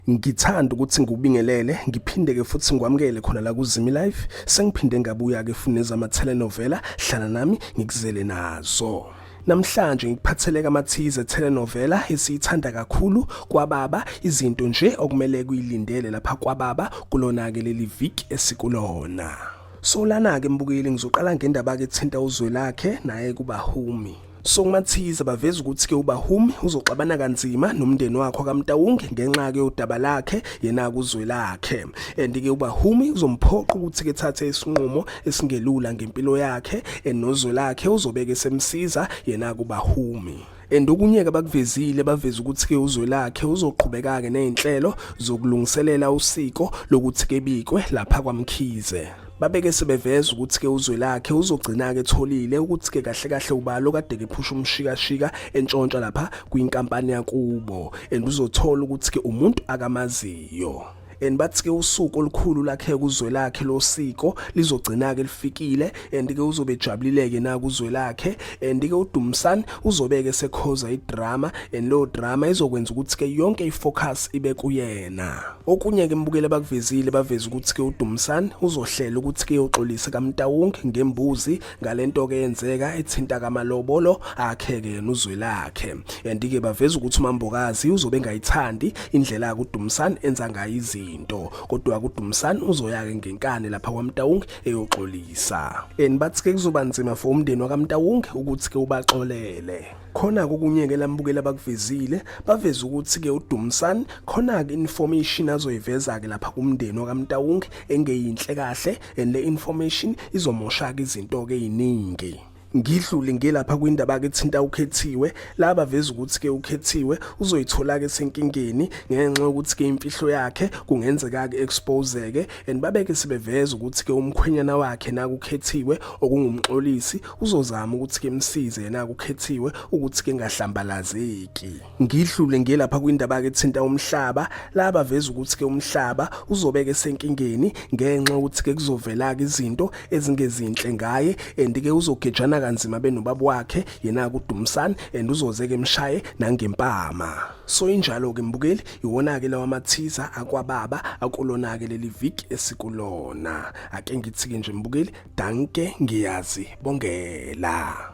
Ngithanda ukuthi ngikubingelele ngiphinde ke futhi ngikwamukele khona la kuZimi Life sengiphinde ngabuya ke fune zama telenovela hlala nami ngikuzele nazo Namhlanje ngikuphathele kamathize telenovela esiyithanda kakhulu kwababa izinto nje okumele kuyilindele lapha kwababa kulona ke leli viki esikulona. Solana ke mbukeli ngizoqala ngendaba ke thinta uzwe lakhe naye kuba humi. Songumathize baveza ukuthi ke uBahumi uzoxabana kanzima nomndeni wakho kaMtawunge ngenxa ke udaba lakhe yena kuzwe lakhe and ke uBahumi uzomphoqa ukuthi ke thathe isinqumo esingelula ngempilo yakhe enozwe lakhe uzobeke semsiza yena kuBahumi and okunye ke bakuvezile baveza ukuthi ke uzwe lakhe uzoqhubeka ke nezinhlelo zokulungiselela usiko lokuthi ke bikwe lapha kwaMkhize babeke sebeveza ukuthi ke uzwe lakhe uzogcina ke etholile ukuthi ke kahle kahle ubalo kade ke phusha umshikashika entshontsha lapha kwinkampani yakubo and uzothola ukuthi ke umuntu akamaziyo and bathi ke usuku olukhulu lakhe kuzwe lakhe losiko lizogcina ke lifikile and ke uzobe ejabulile ke na kuzwe lakhe and ke uDumsani uzobeke sekhoza idrama and lo drama izokwenza ukuthi ke yonke ifocus ibe kuyena okunye ke mbukele bakuvezile baveza ukuthi ke uDumsani uzohlela ukuthi ke uxolise kaMtawung ngembuzi ngalento ke yenzeka ethinta kamalobolo akhe ke nuzwe lakhe and ke baveza ukuthi uMambokazi uzobe engayithandi indlela yakudumsani enza ngayo izinto kodwa kudumsani uzoyake ngenkani lapha kwaMtawung eyoxolisa and bathi ke kuzoba nzima for umndeni wakamntawonke ukuthi ke ubaxolele khona kokunyeke lambukela bakuvezile baveza ukuthi ke uDumsani khona ke information azoyiveza ke lapha kumndeni wakamntawonke engeyinhle kahle and le information izomoshaka izinto ke eziningi ngidlule ngelapha kwindaba ke thinta ukhethiwe laba veza ukuthi ke ukhethiwe uzoyithola ke senkingeni ngenxa ukuthi ke imfihlo yakhe kungenzeka ke expose ke and babeke sebeveza ukuthi ke umkhwenyana wakhe naku khethiwe okungumxolisi uzozama ukuthi ke msize yena ukhethiwe ukuthi ke ngahlambalazeki Ngidlule ngiye lapha kwindaba ke thinta umhlaba laba veza ukuthi ke umhlaba uzobeke senkingeni ngenxa ukuthi ke kuzovela ke izinto ezingezinhle ngaye and ke uzogejana kanzima benobaba wakhe yena kuDumsani and uzoze ke mshaye nangempama so injalo ke mbukeli iwona ke lawa mathiza akwababa akulona ke leli viki esikulona ake ngithi ke nje mbukeli danke ngiyazi bongela